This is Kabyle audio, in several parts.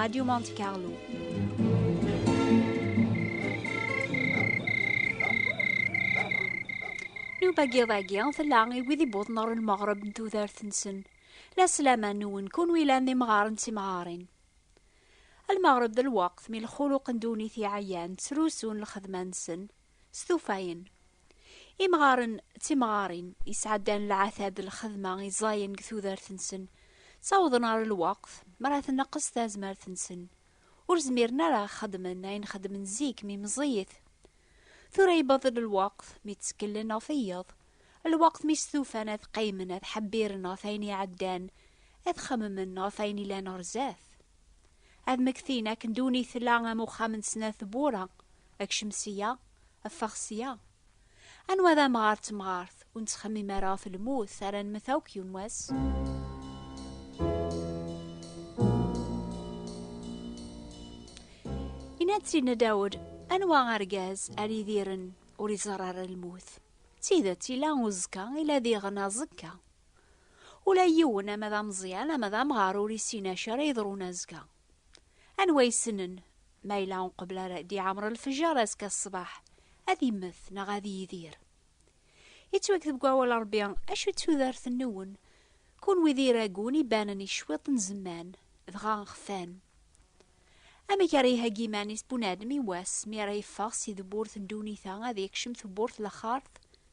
Radio Monte Carlo. Nuba giḍagi tella i wid iwwḍen ɣer lmeɣreb n tudert-nsen. La slama nwen kun wilan d imɣaren d timɣarin. Lmeɣreb d lweqt mi lxuluq n ddunit iɛyan ttrusun lxedma-nsen. s tufayen. Imɣaren d timɣarin yesɛeddan lɛatab d lxedma i ẓẓayen deg tudert-nsen, ttawḍen ɣer lweqt mi ara tneqqes tazmert-nsen, ur zmiren ara ad xedmen ayen xedmen zik mi meẓẓiyit. Tura yewweḍ-d lweqt mi tteklen ɣef wiyeḍ, lweqt mi stufan ad qqimen ad ḥebbiren ɣef wayen iɛeddan, ad xemmen ɣef wayen yellan ɣer zdat. Ad mmektin akken duni tella am uxxam n snat tewwura, akcem sya, ffeɣ sya. Anwa d amɣar d temɣart, ur nettxemmim ara ɣef lmut, ara nemmet akk yiwen wass. Yenna-d Sidna Dawed, anwa argaz ara idiren ur iẓerr ara lmut? D tidet, yella uzekka, ila diɣen aẓekka. Ula yiwen, ama d ameẓyan, ama d amɣar ur issin acu ara yeḍrun azekka. Anwa yessnen ma yella uqbel ara d-iɛemr lfejjar azekka ṣṣbeḥ, ad immet neɣ ad yidir? Yettwakteb deg wawal n Rebbi, Acu d tudert-nwen, kunwi d iragun ibanen i cwiṭ n zzman, dɣa xfan. Amek ara iheggi iman-is bunadem i wass mi ara yeffeɣ si tewwurt n ddunit-a ad yekcem tewwurt n laxart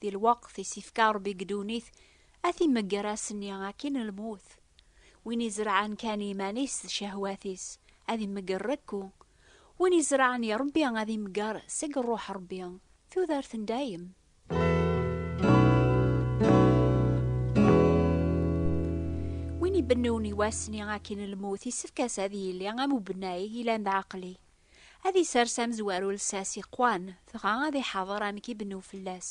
Di lweqt i s-ifka Ṛebbi deg ddunit, ad t-imegger ass-nni akkin lmut. Win izerɛen kan iman-is d cehwat-is, ad imegger rekku. Win izerɛen i Ṛebbi ad imegger seg Ṛṛuḥ Ṛebbi, tudert n dayem. Win ibennun i wass-nni akkin lmut, isefk-as ad yili am ubennay, yellan d ɛeqli. Ad isers amezwaru lsas iqwan, dɣa ad iḥaḍer amek i bnu fell-as.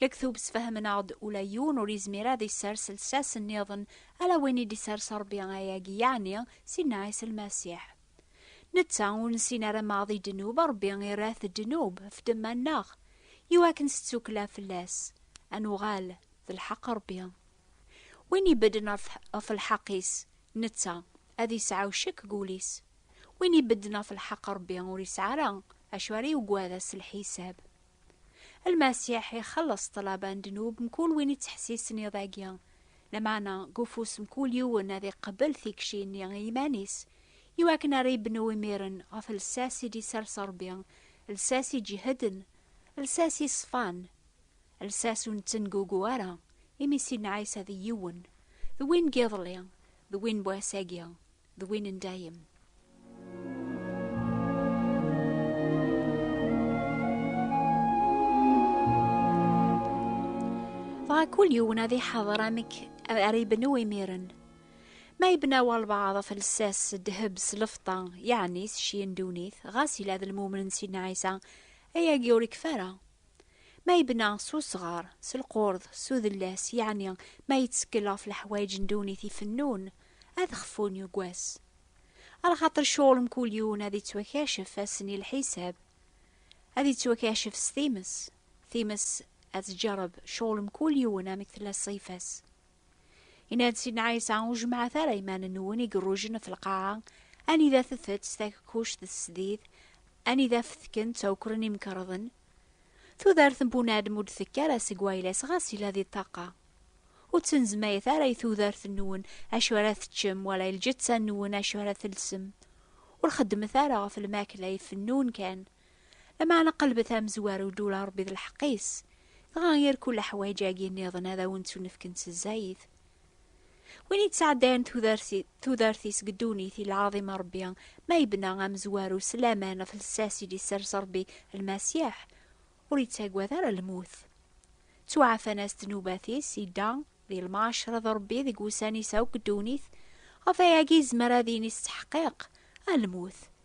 Lektub sfehmen-aɣ-d ula yiwen ur izmir ad isers lsas nniḍen ala win i d-isers Rebbi ayagi yeɛni Sidna Ɛisa Lmasiḥ. Netta ur nessin ara ma di ddnub Rebbi irra-t ddnub ɣef ddemma-nneɣ, iwakken s ttukkla fell-as, ad nuɣal d lḥeqq Rebbi. Win ibedden ɣef lḥeq-is, netta, ad isɛu ccek deg wul-is. Win ibedden ɣef lḥeq n Ṛebbi ur isɛi ara acu ara yugad ass n lḥisab. Lmasiḥ ixelleṣ ṭṭlaba n ddnub mkul win ittḥessisen iḍ-agi, lameɛna deg ufus mkul yiwen ad iqebbel tikci-nni i yiman-is, iwakken ara ibnu imiren ɣef lsas i d-isers Ṛebbi, lsas iǧehden, lsas iṣfan. Lsas ur nettengugu ara, imi Sidna Ɛisa d yiwen, d win n yiḍelli, d win n wass-agi, d win n dayem. Dɣa kul yiwen ad iḥader amek ara ibnu imiren. Ma ibna walbaɛḍ ɣef lsas s ddheb s lefṭa, yeɛni s cci n ddunit, ɣas yella d lmumen n Sidna Ɛisa, ayagi ur ikfi ara. Ma yebna s usɣar, s lqurḍ, s udellas, yeɛni ma yettkel ɣef leḥwayeǧ n ddunit ifennun, ad xfun yuggas. Arxaṭer ccɣel n kul yiwen ad ittwakacef ass-n i lḥisab, ad ittwakacef s times, times ad tǧerreb ccɣel n kul yiwen amek tella ṣṣifa-s. Yenna-d Sidna Ɛisa, ur jemmɛet ara iman-nwen i irujen ɣef lqaɛa, anida tetett takkuct d tesdid, anida fetken ttawkren imkerḍen. Tudert n bunadem ur d-tekki ara seg wayla-s ɣas yella di ṭṭaqa. Ur ttnezmayet ara i tudert-nwen acu ara teččem wala i lǧetta-nwen acu ara telsem. Ur xeddmet ara ɣef lmakla ifennun kan, Lameɛna qelbet amezwaru d ula Ṛebbi d lḥeqq-is, dɣa ger kul aḥwaǧ-agi nniḍen ad awen-ttunefkent s zzayed. Win yettɛeddayen tudert-is deg ddunit i lɛaḍim a Ṛebbi, ma yebna amezwaru s laman ɣef lsas i d-isers Ṛebbi Lmasiḥ, ur yettagad ara lmut. Ttuɛafan-as ddnubat-is, idda di lmaɛcra d Ṛebbi deg wussan-is akk deg ddunit, ɣef wayagi yezmer ad yini s ttḥeqqiq, a lmut,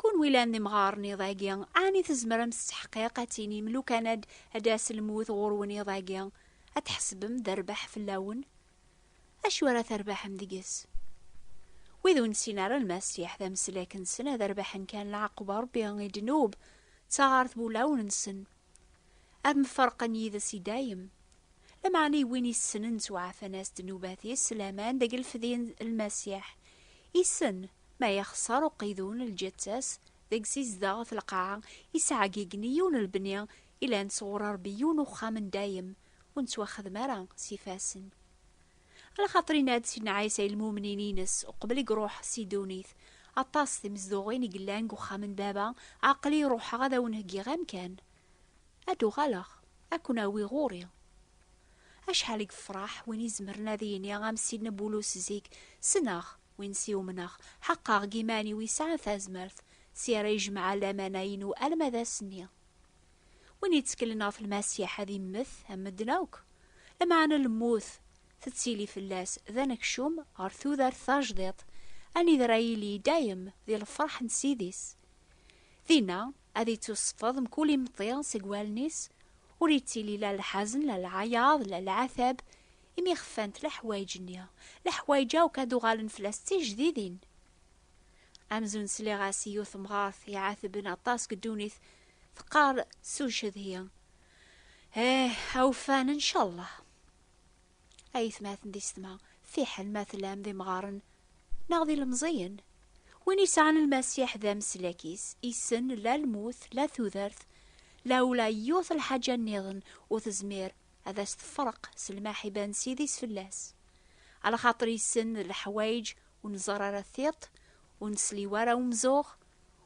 Kunwi llan d imɣaren iḍ-agi, ɛni tzemrem s ttḥeqqiq ad tinim lukan ad ad d-tas lmut ɣur-wen iḍ-agi, ad tḥesbem d rrbeḥ fell-awen? Acu ara terbeḥem deg-s? Wid ur nessin ara Lmasiḥ d ameslak-nsen ad rbeḥen kan lɛaqeb n Rebbi i ddnub d taɣart n wulawen-nsen. Ad mferqen yid-s i dayem. Lameɛna i win issnen ttwaɛfan-as-d nnubat-is, laman deg lfedye n Lmasiḥ. Issen, ma yexṣer uqidun, lǧetta-s, deg-s izdeɣ, f lqaɛa, yesɛa agigni, yiwen lebni, ilan-t sɣur Rebbi, yiwen uxxam n dayem, ur nettwaxdem ara s ifassen. Ala xaṭer inna-d Sidna Ɛisa i lmumnin-ines uqbel i iruḥ si ddunit, Aṭas timezduɣin i yellan deg uxxam n Baba, aql-i ruḥeɣ ad awen-heggiɣ amkan. Ad d-uɣaleɣ, ad ken-awiɣ ɣur-i. Acḥal i yefraḥ win izemren ad yini am Sidna Bulus zik, Ssneɣ win s i-umneɣ, ḥaqqa deg iman-iw yesɛa tazmert, si ara yejmeɛ lamana-inu alma d ass-nni. Win yetteklen ɣef Lmasiḥ ad immet am medden akk. Lameɛna lmut tettili fell-as d anekcum ɣer tudert tajdiṭ, anida ara yili i dayem di lferḥ n Ssid-is. Dinna, ad ittuṣfeḍ mkul imeṭṭi seg wallen-is, ur ittili la lḥazen, la lɛayaḍ, la lɛatab, imi xfant leḥwayeǧ-nni. Leḥwayeǧ akk ad uɣalen fell-as d tijdidin. Amzun sliɣ-as i yiwet temɣart iɛatben aṭas deg ddunit, Teqqar s ucedhi. Eh, awfan, incallah. Ayetmaten di setma, fiḥel ma tlam d imɣaren neɣ d ilemẓiyen. Win yesɛan lmasiḥ d ameslak-is, issen la lmut, la tudert, la ula yiwet lḥaǧa nniḍen ur tezmir ad as-tefreq s lmaḥiba n Ssid-is fell-as. Alxaṭer issen d leḥwayeǧ ur nẓerr ara tiṭ, ur nesliw ara umzuɣ,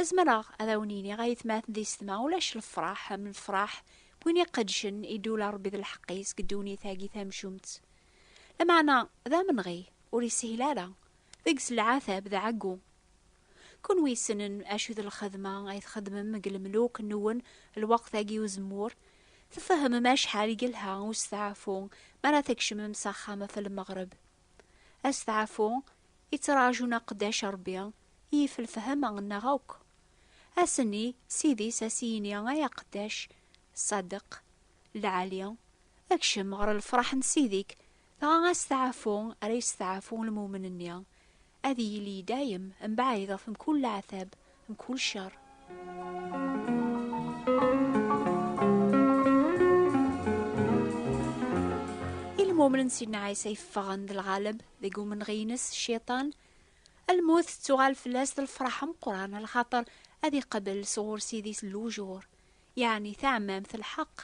Azmreɣ ad awen-iniɣ ayetmaten d isetma ulac lefraḥ am lefraḥ n win iqedcen i d-ula Rebbi d lḥeqq-is deg ddunit-agi tamcumt. Lameɛna d amenɣi, ur ishil ara, deg-s lɛatab d ɛeggu. Kunwi ssnen acu d lxedma ay txedmem deg lemluk-nwen lweqt-agi uzemmur, tfehmem acḥal i yelha usteɛfu mi ara tkecmem s axxam ɣef lmeɣreb. Asteɛfu i ttraǧun aqeddac Ṛebbi yif lefhama nneɣ akk. Asenni s idis a s-yini ay aqeddac Ṣadeq, lɛali, ekcem ɣer lefṛaḥ n Ssid-ik, dɣa asteɛfu ara yesteɛfu lmumen-nni, Ad yili i dayem mebɛid ɣef mkul leɛtab, mkul ccer. Ilmumnen n Sidna Ɛisa yeffɣen d lɣaleb deg umenɣi-ines, Cciṭan, lmut tettuɣal fell-as d lefraḥ ameqqran lxaṭer ad iqabel sɣur Ssid-is lujur, yeɛni taɛmamt, lḥeqq.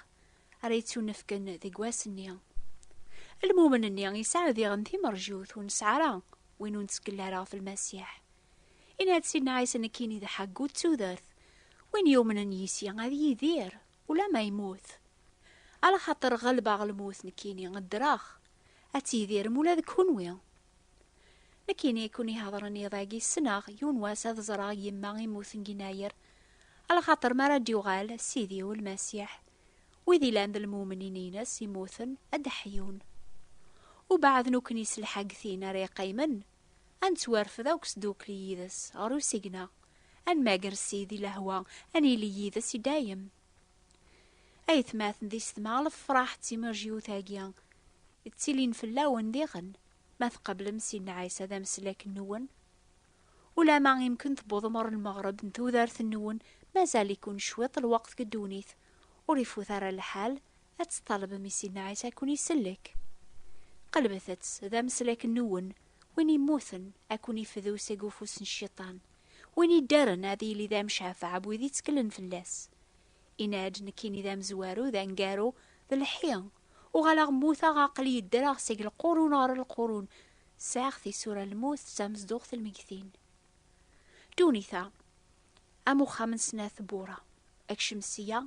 ara yettunefken deg wass-nni. Lmumen-nni yesɛa diɣen timerjut ur nesɛi ara win ur nettkel ara ɣef Lmasiḥ. Yenna-d Sidna Ɛisa nekkini d ḥeggu d tudert, win yumnen yis-i ad yidir ulamma yemmut. Ala xaṭer ɣelbeɣ lmut nekkini ddreɣ, ad tidirem ula d kenwi. Nekkini i ken-iheḍren iḍ-agi ssneɣ yiwen wass ad ẓreɣ yemma imuten ginayer, alaxaṭer mi ara d-yuɣal Sidi-w Lmasiḥ, wid ilan d lmumnin-ines imuten ad d-ḥyun. Ubeɛd nukkni s lḥagtin ara iqqimen, ad nettwarfed akk sdukli yid-s ɣer usigna, ad nmager Sidi lehwa, ad nili yid-s i dayem. Ayetmaten di setma lefraḥ d timerj yiwet-agi ttilin fell-awen diɣen ma tqablem Sidna Ɛisa d ameslak-nwen. Ulama imken tewwḍem ɣer lmeɣreb n tudert-nwen mazal-iken cwiṭ lweqt deg ddunit, ur ifut ara lḥal ad tṭalbem i Sidna Ɛisa ad ken-isellek. Qelbet-tt d ameslak-nwen, win immuten ad ken-ifdu seg ufus n Cciṭan, win iddren ad yili d amcafeɛ n wid itteklen fell-as. Yenna-d, Nekkini d amezwaru, d aneggaru, d lḥi. Uɣaleɣ mmuteɣ, aql-iyi ddreɣ seg lqurun ɣer lqurun. Sɛiɣ tisura n lmut d tamezduɣt n lmegtin. Ddunit-a, am uxxam n snat wwura, ekcem sya,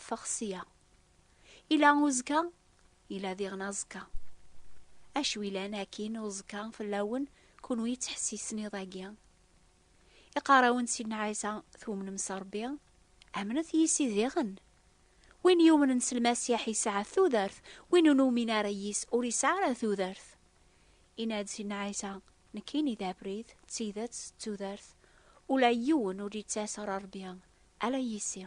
ffeɣ sya. Yella uzekka, yella diɣen aẓekka. Acu yellan akkin uẓekka fell-awen, kunwi yettḥessisen iḍ-agi? Iqarawen Sidna Ɛisa, tumnem s Rebbi, amnet yis-i diɣen. Win yumnen s Lmasiḥ yesɛa tudert, win ur numin ara yis ur yesɛa ara tudert. Yenna-d Sidna Ɛisa, Nekkini d abrid, d tidet, d tudert, ula yiwen ur d-yettas ɣer Rebbi, ala yis-i.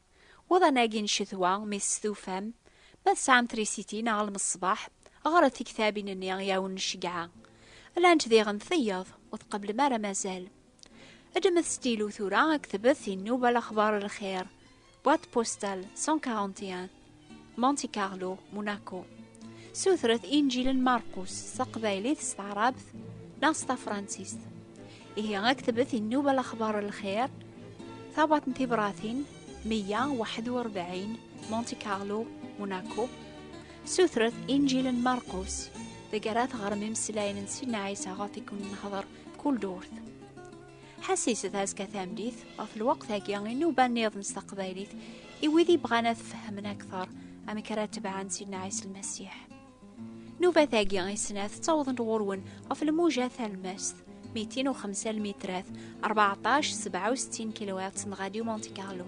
Uḍan-agi n ccetwa, mi testufam, ma tesɛam trisiti neɣ lmeṣbaḥ, ɣret tiktabin-nni i awen-nceggeɛ. Llant diɣen tiyaḍ, ur tqeblem ara mazal. Ddmet stylo tura, ktbet i Nnuba Lexbar Lxir, boîte postale 141, Monte Carlo, Monaco. Sutret injilen Marcus s taqbaylit, s taɛrabt neɣ s tafransist. Ihi aktebet innuba laxbar lxir, tabat n tibratin, 141, Monte Carlo, Monaco. Sutret injilen Marcus, deg ara teɣrem imeslayen n Sidna Ɛisa ɣef i kun-nehder kul durt. Ḥasis d azka tamdit ɣef lweqt-agi inuba niḍen s taqbaylit i wid i bɣan ad fehmen akteṛ amek ara tebɛen Sidna Ɛisa Lmasiḥ. Nubat-agi i snat ttawḍent ɣur-wen ɣef lmuja talmast, mitin u xemsa lmitrat, 14 67 kilowatts n Radio Monte Carlo.